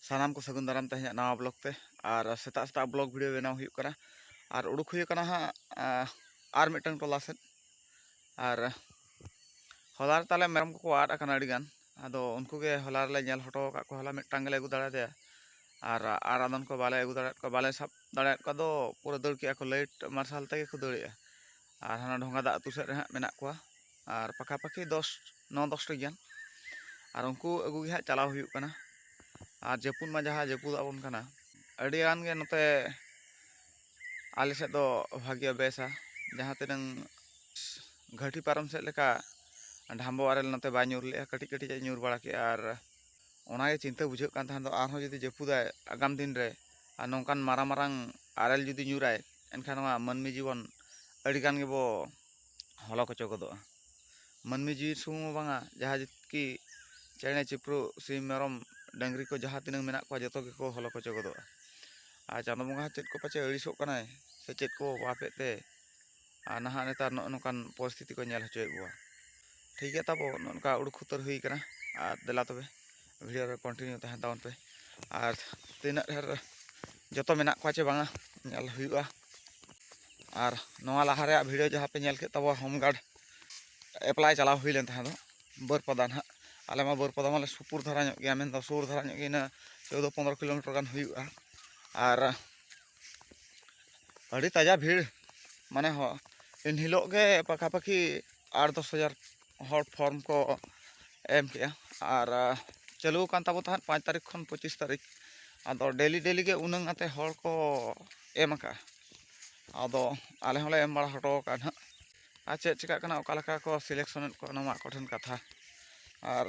ᱥᱟᱱᱟᱢ ᱠᱚ ᱥᱟᱹᱜᱩᱱ ᱫᱟᱨᱟᱢ ᱛᱮ ᱤᱧᱟᱹᱜ ᱱᱟᱣᱟ ᱵᱞᱚᱜ ᱛᱮ ᱟᱨ ᱥᱮᱛᱟᱜ ᱥᱮᱛᱟᱜ ᱵᱞᱚᱜ ᱵᱷᱤᱰᱤᱭᱳ ᱵᱮᱱᱟᱣ ᱦᱩᱭᱩᱜ ᱠᱟᱱᱟ ᱟᱨ ᱩᱰᱩᱠ ᱦᱩᱭ ᱟᱠᱟᱱᱟ ᱦᱟᱸᱜ ᱟᱨ ᱢᱤᱫᱴᱟᱝ ᱴᱚᱞᱟ ᱥᱮᱫ ᱟᱨ ᱦᱚᱞᱟ ᱨᱮ ᱛᱟᱞᱮ ᱢᱮᱨᱚᱢ ᱠᱚᱠᱚ ᱟᱫ ᱟᱠᱟᱱᱟ ᱟᱹᱰᱤ ᱜᱟᱱ ᱟᱫᱚ ᱩᱱᱠᱩ ᱜᱮ ᱦᱚᱞᱟ ᱨᱮᱞᱮ ᱧᱮᱞ ᱦᱚᱴᱚ ᱟᱠᱟᱫ ᱠᱚᱣᱟ ᱦᱚᱞᱟ ᱢᱤᱫᱴᱟᱝ ᱜᱮᱞᱮ ᱟᱹᱜᱩ ᱫᱟᱲᱮᱭᱟᱫᱮᱭᱟ ᱟᱨ ᱟᱨ ᱟᱫᱚᱱ ᱠᱚ ᱵᱟᱞᱮ ᱟᱹᱜᱩ ᱫᱟᱲᱮᱭᱟᱫ ᱠᱚᱣᱟ ᱵᱟᱞᱮ ᱥᱟᱵ ᱫᱟᱲᱮᱭᱟᱫ ᱠᱚᱣᱟ ᱫᱚ ᱯᱩᱨᱟᱹ ᱫᱟᱹᱲ ᱠᱮᱫᱼᱟ ᱠᱚ ᱞᱟᱹᱭᱤᱴ ᱢᱟᱨᱥᱟᱞ ᱛᱮᱜᱮ ᱠᱚ ᱫᱟᱹᱲᱮᱫᱼᱟ ᱟᱨ ᱦᱟᱱᱟ ᱰᱷᱚᱸᱜᱟ ᱫᱟᱜ ᱟᱹᱛᱩ ᱥᱮᱫ ᱨᱮ ᱦᱟᱸᱜ ᱢᱮᱱᱟᱜ ᱠᱚᱣᱟ ᱟᱨ ᱯᱟᱠᱷᱟ ᱯᱟᱠᱷᱤ ᱫᱚᱥ ᱱᱚ ᱫᱚᱥᱴᱤ ᱜᱟᱱ ᱟᱨ ᱩᱱᱠᱩ ᱟᱹᱜᱩ ᱜᱮ ᱦᱟᱸᱜ ᱪᱟᱞᱟᱣ ᱦᱩᱭᱩᱜ ᱠᱟᱱᱟ ᱟᱨ ᱡᱟᱹᱯᱩᱫ ᱢᱟ ᱡᱟᱦᱟᱸ ᱡᱟᱹᱯᱩᱫ ᱟᱵᱚᱱ ᱠᱟᱱᱟ ᱟᱹᱰᱤ ᱜᱟᱱ ᱜᱮ ᱱᱚᱛᱮ ᱟᱞᱮ ᱥᱮᱫ ᱫᱚ ᱵᱷᱟᱜᱮ ᱵᱮᱥᱟ ᱡᱟᱦᱟᱸ ᱛᱤᱱᱟᱹᱝ ᱜᱷᱟᱹᱴᱤ ᱯᱟᱨᱚᱢ ᱥᱮᱫ ᱞᱮᱠᱟ ᱰᱷᱟᱢᱵᱚ ᱟᱨᱮᱞ ᱱᱚᱛᱮ ᱵᱟᱭ ᱧᱩᱨ ᱞᱮᱜᱼᱟ ᱠᱟᱹᱴᱤᱡ ᱠᱟᱹᱴᱤᱡ ᱮ ᱧᱩᱨ ᱵᱟᱲᱟ ᱠᱮᱜᱼᱟ ᱟᱨ ᱚᱱᱟᱜᱮ ᱪᱤᱱᱛᱟᱹ ᱵᱩᱡᱷᱟᱹᱜ ᱠᱟᱱ ᱛᱟᱦᱮᱸ ᱫᱚ ᱟᱨᱦᱚᱸ ᱡᱩᱫᱤ ᱡᱟᱹᱯᱩᱫᱟᱭ ᱟᱜᱟᱢ ᱫᱤᱱ ᱨᱮ ᱟᱨ ᱱᱚᱝᱠᱟᱱ ᱢᱟᱨᱟᱝ ᱢᱟᱨᱟᱝ ᱟᱨᱮᱞ ᱡᱩᱫᱤ ᱧᱩᱨᱟᱭ ᱮᱱᱠᱷᱟᱱ ᱱᱚᱣᱟ ᱢᱟᱹᱱᱢᱤ ᱡᱤᱵᱚᱱ ᱟᱹᱰᱤ ᱜᱟᱱ ᱜᱮᱵᱚ ᱦᱚᱞᱚ ᱠᱚᱪᱚ ᱜᱚᱫᱚᱜᱼᱟ ᱢᱟᱹᱱᱢᱤ ᱡᱤᱣᱤ ᱥᱩᱢᱩᱝ ᱦᱚᱸ ᱵᱟᱝᱟ ᱡᱟᱦᱟᱸ ᱠᱤ ᱪᱮᱬᱮ ᱪᱤᱯᱨᱩᱫ ᱥᱤᱢ ᱢᱮᱨᱚᱢ ᱰᱟᱹᱝᱨᱤ ᱠᱚ ᱡᱟᱦᱟᱸ ᱛᱤᱱᱟᱹᱜ ᱢᱮᱱᱟᱜ ᱠᱚᱣᱟ ᱡᱚᱛᱚ ᱜᱮᱠᱚ ᱦᱚᱞᱚ ᱠᱚᱪᱚ ᱜᱚᱫᱚᱜᱼᱟ ᱟᱨ ᱪᱟᱸᱫᱚ ᱵᱚᱸᱜᱟ ᱦᱚᱸ ᱪᱮᱫ ᱠᱚ ᱯᱟᱪᱮᱫ ᱟᱹᱲᱤᱥᱚᱜ ᱠᱟᱱᱟᱭ ᱥᱮ ᱪᱮᱫ ᱠᱚ ᱚᱵᱷᱟᱵᱽ ᱮᱫ ᱛᱮ ᱟᱨ ᱱᱟᱦᱟᱜ ᱱᱮᱛᱟᱨ ᱱᱚᱜᱼᱚ ᱱᱚᱝᱠᱟᱱ ᱯᱚᱨᱤᱥᱛᱷᱤᱛᱤ ᱠᱚ ᱧᱮᱞ ᱦᱚᱪᱚᱭᱮᱫ ᱵᱚᱱᱟ ᱴᱷᱤᱠ ᱜᱮᱭᱟ ᱛᱟᱵᱚ ᱱᱚᱜᱼᱚ ᱱᱚᱝᱠᱟ ᱩᱲᱩᱠ ᱠᱷᱩᱛᱟᱹᱨ ᱦᱩᱭ ᱠᱟᱱᱟ ᱟᱨ ᱫᱮᱞᱟ ᱛᱚᱵᱮ ᱵᱷᱤᱰᱤᱭᱳ ᱨᱮ ᱠᱚᱱᱴᱤᱱᱤᱭᱩ ᱛᱟᱦᱮᱱ ᱛᱟᱵᱚᱱ ᱯᱮ ᱟᱨ ᱛᱤᱱᱟᱹᱜ ᱰᱷᱮᱨ ᱡᱚᱛᱚ ᱢᱮᱱᱟᱜ ᱠᱚᱣᱟ ᱪᱮ ᱵᱟᱝᱟ ᱧᱮᱞ ᱦᱩᱭᱩᱜᱼᱟ ᱟᱨ ᱱᱚᱣᱟ ᱞᱟᱦᱟ ᱨᱮᱭᱟᱜ ᱵᱷᱤᱰᱤᱭᱳ ᱡᱟᱦᱟᱸ ᱯᱮ ᱧᱮᱞ ᱠᱮᱫ ᱛᱟᱵᱚᱣᱟ ᱦᱳᱢ ᱜᱟᱨᱰ ᱮᱯᱞᱟᱭ ᱪᱟᱞᱟᱣ ᱦᱩᱭ ᱞᱮᱱ ᱛᱟᱦᱮᱸ ᱫᱚ ᱵᱟᱹᱨᱯᱟᱫᱟ ᱱᱟᱦᱟᱜ ᱟᱞᱮ ᱢᱟ ᱵᱟᱹᱨᱯᱟᱫᱟ ᱢᱟᱞᱮ ᱥᱩᱯᱩᱨ ᱫᱷᱟᱨᱟ ᱧᱚᱜ ᱜᱮᱭᱟ ᱢᱮᱱᱫᱚ ᱥᱩᱨ ᱫᱷᱟᱨᱟ ᱧᱚᱜ ᱜᱮ ᱤᱱᱟᱹ ᱪᱳᱫᱽᱫᱳ ᱯᱚᱱᱨᱚ ᱠᱤᱞᱳᱢᱤᱴᱟᱨ ᱜᱟᱱ ᱦᱩᱭᱩᱜᱼᱟ ᱟᱨ ᱟᱹᱰᱤ ᱛᱟᱡᱟ ᱵᱷᱤᱲ ᱢᱟᱱᱮ ᱮᱱᱦᱤᱞᱳᱜ ᱜᱮ ᱯᱟᱠᱟᱯᱟᱠᱤ ᱟᱴ ᱫᱚᱥ ᱦᱟᱡᱟᱨ ᱦᱚᱲ ᱯᱷᱚᱨᱢ ᱠᱚ ᱮᱢ ᱠᱮᱜᱼᱟ ᱟᱨ ᱪᱟᱹᱞᱩ ᱟᱠᱟᱱ ᱛᱟᱵᱚᱱ ᱛᱟᱦᱮᱸᱫ ᱯᱟᱸᱪ ᱛᱟᱹᱨᱤᱠᱷ ᱠᱷᱚᱱ ᱯᱚᱸᱪᱤᱥ ᱛᱟᱹᱨᱤᱠᱷ ᱟᱫᱚ ᱰᱮᱞᱤ ᱰᱮᱞᱤ ᱜᱮ ᱩᱱᱟᱹᱜ ᱠᱟᱛᱮᱫ ᱦᱚᱲ ᱠᱚ ᱮᱢ ᱠᱟᱜᱼᱟ ᱟᱫᱚ ᱟᱞᱮ ᱦᱚᱸᱞᱮ ᱮᱢ ᱵᱟᱲᱟ ᱦᱚᱴᱚ ᱠᱟᱜᱼᱟ ᱦᱟᱸᱜ ᱟᱨ ᱪᱮᱫ ᱪᱤᱠᱟᱹᱜ ᱠᱟᱱᱟ ᱚᱠᱟ ᱞᱮᱠᱟ ᱠᱚ ᱥᱤᱞᱮᱠᱥᱚᱱ ᱮᱫ ᱠᱚᱣᱟ ᱚᱱᱟ ᱢᱟ ᱟᱠᱚ ᱴᱷᱮᱱ ᱠᱟᱛᱷᱟ ᱟᱨ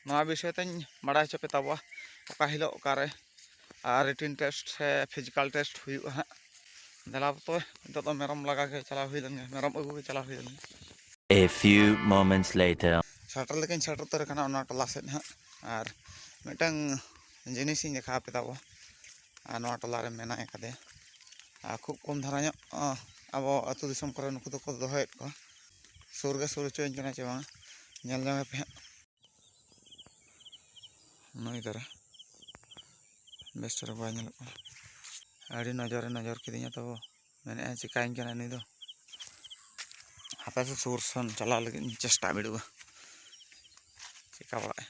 ᱱᱚᱣᱟ ᱵᱤᱥᱚᱭ ᱛᱤᱧ ᱵᱟᱲᱟᱭ ᱦᱚᱪᱚ ᱯᱮ ᱛᱟᱵᱚᱣᱟ ᱚᱠᱟ ᱦᱤᱞᱳᱜ ᱚᱠᱟᱨᱮ ᱟᱨ ᱨᱤᱴᱤᱱ ᱴᱮᱥᱴ ᱥᱮ ᱯᱷᱤᱡᱤᱠᱟᱞ ᱴᱮᱥᱴ ᱦᱩᱭᱩᱜᱼᱟ ᱦᱟᱸᱜ ᱫᱮᱞᱟ ᱛᱚᱵᱮ ᱱᱤᱛᱚᱜ ᱫᱚ ᱢᱮᱨᱚᱢ ᱞᱟᱜᱟ ᱜᱮ ᱪᱟᱞᱟᱣ ᱦᱩᱭ ᱞᱮᱱ ᱜᱮ ᱢᱮᱨᱚᱢ ᱟᱹᱜᱩ ᱜᱮ ᱪᱟᱞᱟᱣ ᱦᱩᱭ ᱞᱮᱱ ᱜᱮ A few moments later. ᱥᱮᱴᱮᱨ ᱞᱮᱠᱟᱧ ᱥᱮᱴᱮᱨ ᱩᱛᱟᱹᱨ ᱟᱠᱟᱱᱟ ᱚᱱᱟ ᱴᱚᱞᱟ ᱥᱮᱫ ᱦᱟᱸᱜ ᱟᱨ ᱢᱤᱫᱴᱟᱝ ᱡᱤᱱᱤᱥᱤᱧ ᱫᱮᱠᱷᱟᱣ ᱟᱯᱮ ᱛᱟᱵᱚ ᱟᱨ ᱱᱚᱣᱟ ᱴᱚᱞᱟ ᱨᱮ ᱢᱮᱱᱟᱭ ᱠᱟᱫᱮᱭᱟ ᱟᱨ ᱠᱷᱩᱵ ᱠᱚᱢ ᱫᱷᱟᱨᱟ ᱧᱚᱜ ᱟᱵᱚ ᱟᱹᱛᱩ ᱫᱤᱥᱚᱢ ᱠᱚᱨᱮ ᱱᱩᱠᱩ ᱫᱚᱠᱚ ᱫᱚᱦᱚᱭᱮᱫ ᱠᱚᱣᱟ ᱥᱩᱨ ᱜᱮ ᱥᱩᱨ ᱦᱚᱪᱚᱣᱟᱹᱧ ᱠᱟᱱᱟ ᱪᱮ ᱵᱟᱝᱟ ᱧᱮᱞ ᱧᱟᱢᱮᱯᱮ ᱦᱟᱸᱜ ᱱᱩᱭ ᱫᱟᱨᱟ ᱵᱮᱥ ᱪᱮᱦᱨᱟ ᱵᱟᱭ ᱧᱮᱞᱚᱜ ᱠᱟᱱᱟ ᱟᱹᱰᱤ ᱱᱚᱡᱚᱨᱮ ᱱᱚᱡᱚᱨ ᱠᱤᱫᱤᱧᱟ ᱛᱚ ᱢᱮᱱᱮᱫᱼᱟᱭ ᱪᱤᱠᱟᱹᱧ ᱠᱟᱱᱟᱭ ᱱᱩᱭ ᱫᱚ ᱦᱟᱯᱮ ᱥᱮ ᱥᱩᱨ ᱥᱮᱱ ᱪᱟᱞᱟᱣ ᱞᱟᱹᱜᱤᱫ ᱤᱧ ᱪᱮᱥᱴᱟ ᱵᱤᱰᱟᱹᱣᱟ ᱪᱤᱠᱟᱹ ᱵᱟᱲᱟᱜᱼᱟᱭ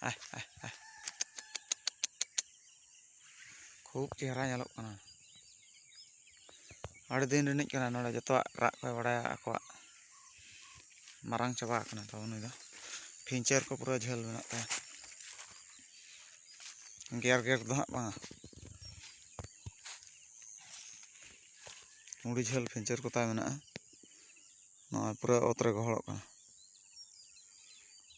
ᱟᱭ ᱟᱭ ᱟᱭ ᱠᱷᱩᱵ ᱪᱮᱦᱨᱟ ᱧᱮᱞᱚᱜ ᱠᱟᱱᱟ ᱟᱹᱰᱤ ᱫᱤᱱ ᱨᱤᱱᱤᱡ ᱠᱟᱱᱟ ᱱᱚᱰᱮ ᱡᱚᱛᱚᱣᱟᱜ ᱨᱟᱜ ᱠᱚᱭ ᱵᱟᱲᱟᱭᱟ ᱟᱠᱚᱣᱟᱜ ᱢᱟᱨᱟᱝ ᱪᱟᱵᱟ ᱟᱠᱟᱱᱟ ᱛᱚ ᱩᱱᱤ ᱫᱚ ᱯᱷᱤᱧᱪᱟᱨ ᱠᱚ ᱯᱩᱨᱟᱹ ᱡᱷᱟᱹᱞ ᱢᱮᱱᱟᱜ ᱛᱟᱭᱟ ᱜᱮᱨ ᱜᱮᱨ ᱫᱚ ᱦᱟᱸᱜ ᱵᱟᱝᱟ ᱢᱩᱲᱤ ᱡᱷᱟᱹᱞ ᱯᱷᱤᱧᱪᱟᱨ ᱠᱚ ᱛᱟᱭ ᱢᱮᱱᱟᱜᱼᱟ ᱱᱚᱣᱟ ᱯᱩᱨᱟᱹ ᱚᱛ ᱨᱮ ᱜᱚᱦᱚᱲᱚᱜ ᱠᱟᱱᱟ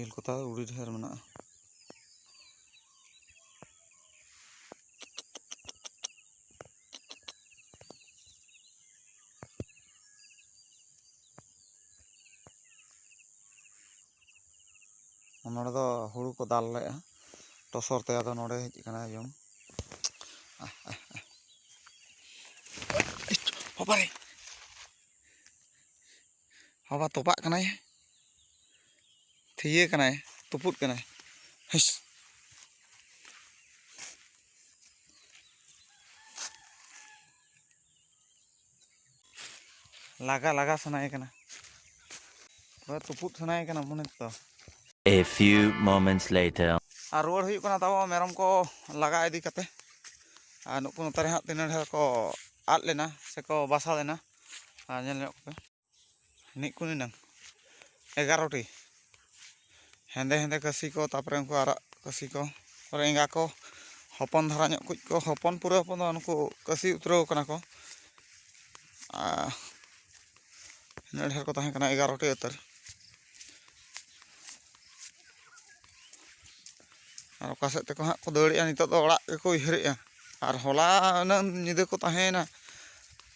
ᱤᱞ ᱠᱚ ᱛᱟᱣ ᱟᱹᱰᱤ ᱰᱷᱮᱨ ᱢᱮᱱᱟᱜᱼᱟ ᱱᱚᱸᱰᱮ ᱫᱚ ᱦᱩᱲᱩ ᱠᱚ ᱫᱟᱞ ᱞᱮᱫᱼᱟ ᱴᱚᱥᱚᱨ ᱛᱮ ᱟᱫᱚ ᱱᱚᱸᱰᱮ ᱦᱮᱡ ᱠᱟᱱᱟ ᱡᱚᱢ ᱵᱟᱵᱟᱨᱮ ᱵᱟᱵᱟ ᱛᱚᱯᱟᱜ ᱠᱟᱱᱟᱭ ᱛᱷᱤᱭᱟᱹ ᱠᱟᱱᱟᱭ ᱛᱩᱯᱩᱫ ᱠᱟᱱᱟᱭ ᱦᱤᱥ ᱞᱟᱜᱟ ᱞᱟᱜᱟ ᱥᱟᱱᱟᱭᱮ ᱠᱟᱱᱟ ᱯᱩᱨᱟᱹ ᱛᱩᱯᱩᱫ ᱥᱟᱱᱟᱭᱮ ᱠᱟᱱᱟ ᱢᱚᱱᱮ ᱛᱮᱫᱚ A few moments later ᱟᱨ ᱨᱩᱣᱟᱹᱲ ᱦᱩᱭᱩᱜ ᱠᱟᱱᱟ ᱛᱟᱵᱚ ᱢᱮᱨᱚᱢ ᱠᱚ ᱞᱟᱜᱟ ᱤᱫᱤ ᱠᱟᱛᱮ ᱟᱨ ᱱᱩᱠᱩ ᱱᱚᱛᱮ ᱨᱮ ᱦᱟᱸᱜ ᱛᱤᱱᱟᱹᱜ ᱰᱷᱮᱨ ᱠᱚ ᱟᱫ ᱞᱮᱱᱟ ᱥᱮᱠᱚ ᱵᱟᱥᱟ ᱞᱮᱱᱟ ᱟᱨ ᱧᱮᱞ ᱧᱚᱜ ᱠᱚᱯᱮ ᱱᱤᱡ ᱠᱚ ᱱᱤᱱᱟᱹᱝ ᱮᱜᱟᱨᱚᱴᱤ ᱦᱮᱸᱫᱮ ᱦᱮᱸᱫᱮ ᱠᱟᱹᱥᱤ ᱠᱚ ᱛᱟᱨᱯᱚᱨᱮ ᱩᱱᱠᱩ ᱟᱨᱟᱜ ᱠᱟᱹᱥᱤ ᱠᱚ ᱛᱟᱨᱯᱚᱨᱮ ᱮᱸᱜᱟ ᱠᱚ ᱦᱚᱯᱚᱱ ᱫᱷᱟᱨᱟ ᱧᱚᱜ ᱠᱚ ᱠᱚ ᱦᱚᱯᱚᱱ ᱯᱩᱨᱟᱹ ᱦᱚᱯᱚᱱ ᱫᱚ ᱩᱱᱠᱩ ᱠᱟᱹᱥᱤ ᱩᱛᱨᱟᱹᱣ ᱠᱟᱱᱟ ᱠᱚ ᱟᱨ ᱤᱱᱟᱹᱜ ᱰᱷᱮᱨ ᱠᱚ ᱛᱟᱦᱮᱸ ᱠᱟᱱᱟ ᱮᱜᱟᱨᱚᱴᱤ ᱩᱛᱟᱹᱨ ᱟᱨ ᱚᱠᱟ ᱥᱮᱫ ᱛᱮᱠᱚ ᱦᱟᱸᱜ ᱠᱚ ᱫᱟᱹᱲᱮᱜᱼᱟ ᱱᱤᱛᱚᱜ ᱫᱚ ᱚᱲᱟᱜ ᱜᱮᱠᱚ ᱩᱭᱦᱟᱹᱨᱮᱜᱼᱟ ᱟᱨ ᱦᱚᱞᱟ ᱩᱱᱟᱹᱜ ᱧᱤᱫᱟᱹ ᱠᱚ ᱛᱟᱦᱮᱸᱭᱮᱱᱟ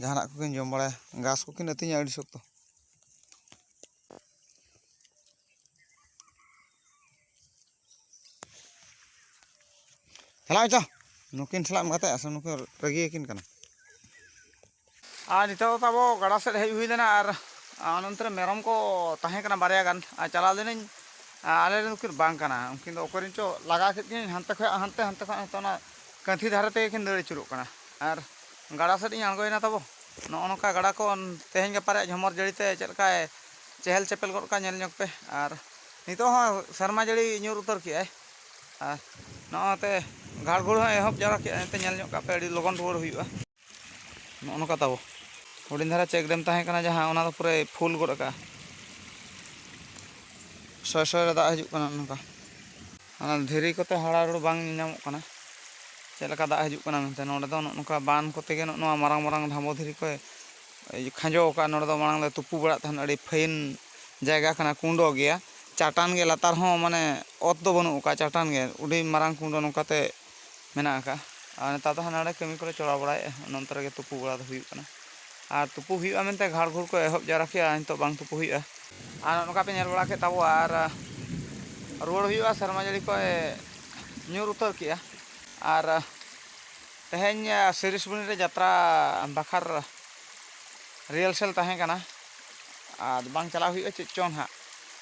ᱡᱟᱦᱟᱱᱟᱜ ᱠᱚᱠᱤᱱ ᱡᱚᱢ ᱵᱟᱲᱟᱭᱟ ᱜᱷᱟᱥ ᱠᱚᱠᱤᱱ ᱟᱹᱛᱤᱧᱟ ᱟᱹᱰᱤ ᱥᱚᱠᱛᱚ ᱪᱟᱞᱟᱜ ᱪᱚ ᱱᱩᱠᱤᱱ ᱥᱟᱞᱟᱜ ᱮᱢ ᱜᱟᱛᱮᱜᱼᱟ ᱥᱮ ᱱᱩᱠᱤᱱ ᱨᱟᱹᱜᱤᱭᱟᱠᱤᱱ ᱠᱟᱱᱟ ᱟᱨ ᱱᱤᱛᱚᱜ ᱫᱚ ᱛᱟᱵᱚ ᱜᱟᱰᱟ ᱥᱮᱫ ᱦᱮᱡ ᱦᱩᱭ ᱞᱮᱱᱟ ᱟᱨ ᱚᱱᱚᱱᱛᱨᱮ ᱢᱮᱨᱚᱢ ᱠᱚ ᱛᱟᱦᱮᱸ ᱠᱟᱱᱟ ᱵᱟᱨᱭᱟ ᱜᱟᱱ ᱟᱨ ᱪᱟᱞᱟᱣ ᱞᱮᱱᱟᱹᱧ ᱟᱞᱮ ᱨᱮᱱ ᱩᱱᱠᱤᱱ ᱵᱟᱝ ᱠᱟᱱᱟ ᱩᱱᱠᱤᱱ ᱫᱚ ᱚᱠᱚᱭ ᱨᱮᱱ ᱪᱚ ᱞᱟᱜᱟ ᱠᱮᱫ ᱠᱤᱱᱟᱹᱧ ᱦᱟᱱᱛᱮ ᱠᱷᱚᱱ ᱦᱟᱱᱛᱮ ᱦᱟᱱᱛᱮ ᱠᱷᱚᱱ ᱦᱟᱱᱛᱮ ᱚᱱᱟ ᱠᱟᱹᱛᱷᱤ ᱫᱷᱟᱨᱮ ᱛᱮᱜᱮ ᱠᱤᱱ ᱫᱟᱹᱲ ᱟᱹᱪᱩᱨᱚᱜ ᱠᱟᱱᱟ ᱟᱨ ᱜᱟᱰᱟ ᱥᱮᱫ ᱤᱧ ᱟᱬᱜᱚᱭᱮᱱᱟ ᱛᱟᱵᱚ ᱱᱚᱜᱼᱚ ᱱᱚᱝᱠᱟ ᱜᱟᱰᱟ ᱠᱚ ᱛᱮᱦᱮᱧ ᱜᱟᱯᱟ ᱨᱮᱭᱟᱜ ᱡᱷᱚᱢᱚᱨ ᱡᱟᱹᱲᱤ ᱛᱮ ᱪᱮᱫ ᱞᱮᱠᱟᱭ ᱪᱮᱦᱮᱞ ᱪᱮᱯᱮᱞ ᱜᱚᱫ ᱠᱟᱜᱼᱟ ᱧᱮᱞ ᱧᱚᱜᱽ ᱯᱮ ᱟᱨ ᱱᱤᱛᱚᱜ ᱦᱚᱸ ᱥᱮᱨᱢᱟ ᱡᱟᱹᱲᱤ ᱧᱩᱨ ᱩᱛᱟᱹᱨ ᱠᱮᱜᱼᱟᱭ ᱟᱨ ᱱᱚᱜᱼᱚᱭᱛᱮ ᱜᱷᱟᱲ ᱜᱷᱩᱲ ᱦᱚᱸ ᱮᱦᱚᱵ ᱡᱟᱣᱨᱟ ᱠᱮᱜᱼᱟᱭ ᱮᱱᱛᱮ ᱧᱮᱞ ᱧᱚᱜ ᱠᱟᱜ ᱯᱮ ᱟᱹᱰᱤ ᱞᱚᱜᱚᱱ ᱨᱩᱣᱟᱹᱲ ᱦᱩᱭᱩᱜᱼᱟ ᱱᱚᱜᱼᱚ ᱱᱚᱝᱠᱟ ᱛᱟᱵᱚ ᱦᱩᱰᱤᱧ ᱫᱷᱟᱨᱟ ᱪᱮᱠ ᱰᱮᱢ ᱛᱟᱦᱮᱸ ᱠᱟᱱᱟ ᱡᱟᱦᱟᱸ ᱚᱱᱟ ᱫᱚ ᱯᱩᱨᱟᱹᱭ ᱯᱷᱩᱞ ᱜᱚᱫ ᱠᱟᱜᱼᱟ ᱥᱚᱭ ᱥᱚᱭ ᱨᱮ ᱫᱟᱜ ᱦᱤᱡᱩᱜ ᱠᱟᱱᱟ ᱱᱚᱝᱠᱟ ᱚᱱᱟ ᱫᱷᱤᱨᱤ ᱠᱚᱛᱮ ᱦᱟᱲᱟ ᱨᱩᱲ ᱵᱟᱝ ᱧᱟᱢᱚᱜ ᱠᱟᱱᱟ ᱪᱮᱫ ᱞᱮᱠᱟ ᱫᱟᱜ ᱦᱤᱡᱩᱜ ᱠᱟᱱᱟ ᱢᱮᱱᱛᱮ ᱱᱚᱰᱮ ᱫᱚ ᱱᱚᱜᱼᱚ ᱱᱚᱝᱠᱟ ᱵᱟᱱ ᱠᱚᱛᱮ ᱜᱮ ᱱᱚᱜᱼᱚ ᱱᱚᱣᱟ ᱢᱟᱨᱟᱝ ᱢᱟᱨᱟᱝ ᱰᱷᱟᱢᱵᱚ ᱫᱷᱤᱨᱤ ᱠᱚᱭ ᱠᱷᱟᱸᱡᱚ ᱟᱠᱟᱫᱼᱟ ᱱᱚᱰᱮ ᱫᱚ ᱢᱟᱲᱟᱝ ᱞᱮ ᱛᱩᱯᱩ ᱵᱟᱲᱟᱜ ᱛᱟᱦᱮᱱ ᱟᱹᱰᱤ ᱯᱷᱟᱹᱭᱤᱱ ᱡᱟᱭᱜᱟ ᱠᱟᱱᱟ ᱠᱩᱸᱰᱚ ᱜᱮᱭᱟ ᱪᱟᱴᱟᱱ ᱜᱮ ᱞᱟᱛᱟᱨ ᱦᱚᱸ ᱢᱟᱱᱮ ᱚᱛ ᱫᱚ ᱵᱟᱹᱱᱩᱜ ᱟᱠᱟᱫᱼᱟ ᱪᱟᱴᱟᱱ ᱜᱮ ᱟᱹᱰᱤ ᱢᱟᱨᱟᱝ ᱠᱩᱸᱰᱚ ᱱᱚᱝᱠᱟᱛᱮ ᱢᱮᱱᱟᱜ ᱟᱠᱟᱫᱼᱟ ᱟᱨ ᱱᱮᱛᱟᱨ ᱫᱚ ᱦᱟᱸᱰᱮ ᱱᱟᱸᱰᱮ ᱠᱟᱹᱢᱤ ᱠᱚᱞᱮ ᱪᱟᱞᱟᱣ ᱵᱟᱲᱟᱭᱮᱫᱼᱟ ᱚᱱᱮ ᱚᱱᱛᱮ ᱨᱮᱜᱮ ᱛᱩᱯᱩ ᱵᱟᱲᱟ ᱫᱚ ᱦᱩᱭᱩᱜ ᱠᱟᱱᱟ ᱟᱨ ᱛᱩᱯᱩ ᱦᱩᱭᱩᱜᱼᱟ ᱢᱮᱱᱛᱮ ᱜᱷᱟᱲ ᱜᱷᱩᱲ ᱠᱚ ᱮᱦᱚᱵ ᱡᱟᱣᱨᱟ ᱠᱮᱫᱼᱟ ᱟᱨ ᱱᱤᱛᱚᱜ ᱵᱟᱝ ᱛᱩᱯᱩ ᱦᱩᱭᱩᱜᱼᱟ ᱟᱨ ᱱᱚᱜᱼᱚ ᱱᱚᱝᱠᱟ ᱯᱮ ᱧᱮᱞ ᱵᱟᱲᱟ ᱠᱮᱫ ᱛᱟᱵᱚᱣᱟ ᱟᱨ ᱨᱩᱣᱟᱹᱲ ᱦᱩᱭᱩᱜᱼᱟ ᱥᱮᱨᱢᱟ ᱡᱟᱹᱲᱤ ᱠᱚᱭ ᱧᱩᱨ ᱩᱛᱟᱹᱨ ᱠᱮᱫᱼᱟ ᱟᱨ ᱛᱮᱦᱮᱧ ᱥᱤᱨᱤᱥ ᱵᱩᱱᱤ ᱨᱮ ᱡᱟᱛᱨᱟ ᱵᱟᱠᱷᱟᱨ ᱨᱤᱦᱟᱨᱥᱮᱞ ᱛᱟᱦᱮᱸ ᱠᱟᱱᱟ ᱟᱨ ᱵᱟᱝ ᱪᱟᱞᱟᱣ ᱦᱩᱭᱩᱜᱼᱟ ᱪᱮᱫ ᱪᱚᱝ ᱦᱟᱸᱜ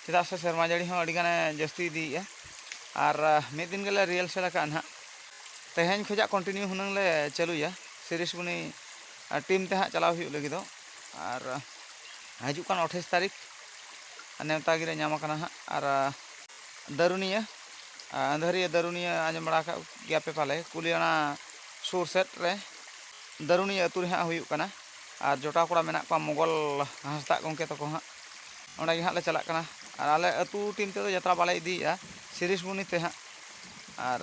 ᱪᱮᱫᱟᱜ ᱥᱮ ᱥᱮᱨᱢᱟ ᱡᱟᱹᱲᱤ ᱦᱚᱸ ᱟᱹᱰᱤ ᱜᱟᱱᱮ ᱡᱟᱹᱥᱛᱤ ᱤᱫᱤᱭᱮᱜᱼᱟ ᱟᱨ ᱢᱤᱫ ᱫᱤᱱ ᱜᱮᱞᱮ ᱨᱤᱦᱟᱨᱥᱮᱞ ᱟᱠᱟᱫᱼᱟ ᱦᱟᱸᱜ ᱛᱮᱦᱮᱧ ᱠᱷᱚᱱᱟᱜ ᱠᱚᱱᱴᱤᱱᱤᱭᱩ ᱦᱩᱱᱟᱹᱝ ᱞᱮ ᱪᱟᱹᱞᱩᱭᱟ ᱥᱤᱨᱤᱥ ᱵᱩᱱᱤ ᱴᱤᱢ ᱛᱮ ᱦᱟᱸᱜ ᱪᱟᱞᱟᱣ ᱦᱩᱭᱩᱜ ᱞᱟᱹᱜᱤᱫᱚᱜ ᱟᱨ ᱦᱤᱡᱩᱜ ᱠᱟᱱ ᱟᱴᱷᱟᱥ ᱛᱟᱹᱨᱤᱠᱷ ᱱᱮᱣᱛᱟ ᱜᱮᱞᱮ ᱧᱟᱢ ᱟᱠᱟᱱᱟ ᱦᱟᱸᱜ ᱟᱨ ᱫᱟᱹᱨᱩᱱᱤᱭᱟᱹ ᱟᱸᱫᱷᱟᱹᱨᱤᱭᱟᱹ ᱫᱟᱹᱨᱩᱱᱤᱭᱟᱹ ᱟᱸᱡᱚᱢ ᱵᱟᱲᱟ ᱟᱠᱟᱫ ᱜᱮᱭᱟᱯᱮ ᱯᱟᱞᱮ ᱠᱩᱞᱤᱭᱟᱱᱟ ᱥᱩᱨ ᱥᱮᱫ ᱨᱮ ᱫᱟᱹᱨᱩᱱᱤᱭᱟᱹ ᱟᱹᱛᱩ ᱨᱮ ᱦᱟᱸᱜ ᱦᱩᱭᱩᱜ ᱠᱟᱱᱟ ᱟᱨ ᱡᱚᱴᱟᱣ ᱠᱚᱲᱟ ᱢᱮᱱᱟᱜ ᱠᱚᱣᱟ ᱢᱚᱜᱚᱞ ᱦᱟᱸᱥᱫᱟᱜ ᱜᱚᱢᱠᱮ ᱛᱟᱠᱚ ᱦᱟᱸᱜ ᱚᱸᱰᱮ ᱜᱮ ᱦᱟᱸᱜ ᱞᱮ ᱪᱟᱞᱟᱜ ᱠᱟᱱᱟ ᱟᱨ ᱟᱞᱮ ᱟᱹᱛᱩ ᱴᱤᱢ ᱛᱮᱫᱚ ᱡᱟᱛᱨᱟ ᱵᱟᱞᱮ ᱤᱫᱤᱭᱮᱜᱼᱟ ᱥᱤᱨᱤᱥᱵᱚᱱᱤ ᱛᱮ ᱦᱟᱸᱜ ᱟᱨ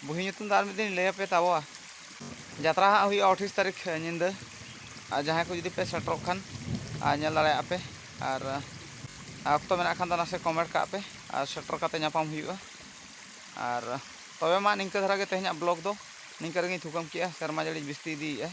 ᱵᱩᱦᱤ ᱧᱩᱛᱩᱢ ᱫᱚ ᱟᱨ ᱢᱤᱫ ᱫᱤᱱ ᱞᱟᱹᱭ ᱟᱯᱮ ᱛᱟᱵᱚᱣᱟ ᱡᱟᱛᱨᱟ ᱦᱟᱸᱜ ᱦᱩᱭᱩᱜᱼᱟ ᱟᱴᱷᱤᱥ ᱛᱟᱹᱨᱤᱠᱷ ᱧᱤᱫᱟᱹ ᱟᱨ ᱡᱟᱦᱟᱸᱭ ᱠᱚ ᱡᱩᱫᱤ ᱯᱮ ᱥᱮᱴᱮᱨᱚᱜ ᱠᱷᱟᱱ ᱟᱨ ᱧᱮᱞ ᱫᱟᱲᱮᱭᱟᱜᱼᱟ ᱯᱮ ᱟᱨ ᱚᱠᱛᱚ ᱢᱮᱱᱟᱜ ᱠᱷᱟᱱ ᱫᱚ ᱱᱟᱥᱮ ᱠᱚᱢᱮᱱᱴ ᱠᱟᱜ ᱯᱮ ᱟᱨ ᱥᱮᱴᱮᱨ ᱠᱟᱛᱮ ᱧᱟᱯᱟᱢ ᱦᱩᱭᱩᱜᱼᱟ ᱟᱨ ᱛᱚᱵᱮ ᱢᱟ ᱱᱤᱝᱠᱟᱹ ᱫᱷᱟᱨᱟ ᱜᱮ ᱛᱮᱦᱮᱧᱟᱜ ᱵᱞᱚᱜᱽ ᱫᱚ ᱱᱤᱝᱠᱟᱹ ᱨᱮᱜᱮᱧ ᱛᱷᱩᱠᱟᱹᱢ ᱠᱮᱜᱼᱟ ᱥᱮᱨᱢᱟ ᱡᱟᱹᱲᱤ ᱵᱤᱥᱛᱤ ᱤᱫᱤᱭᱮᱜᱼᱟᱭ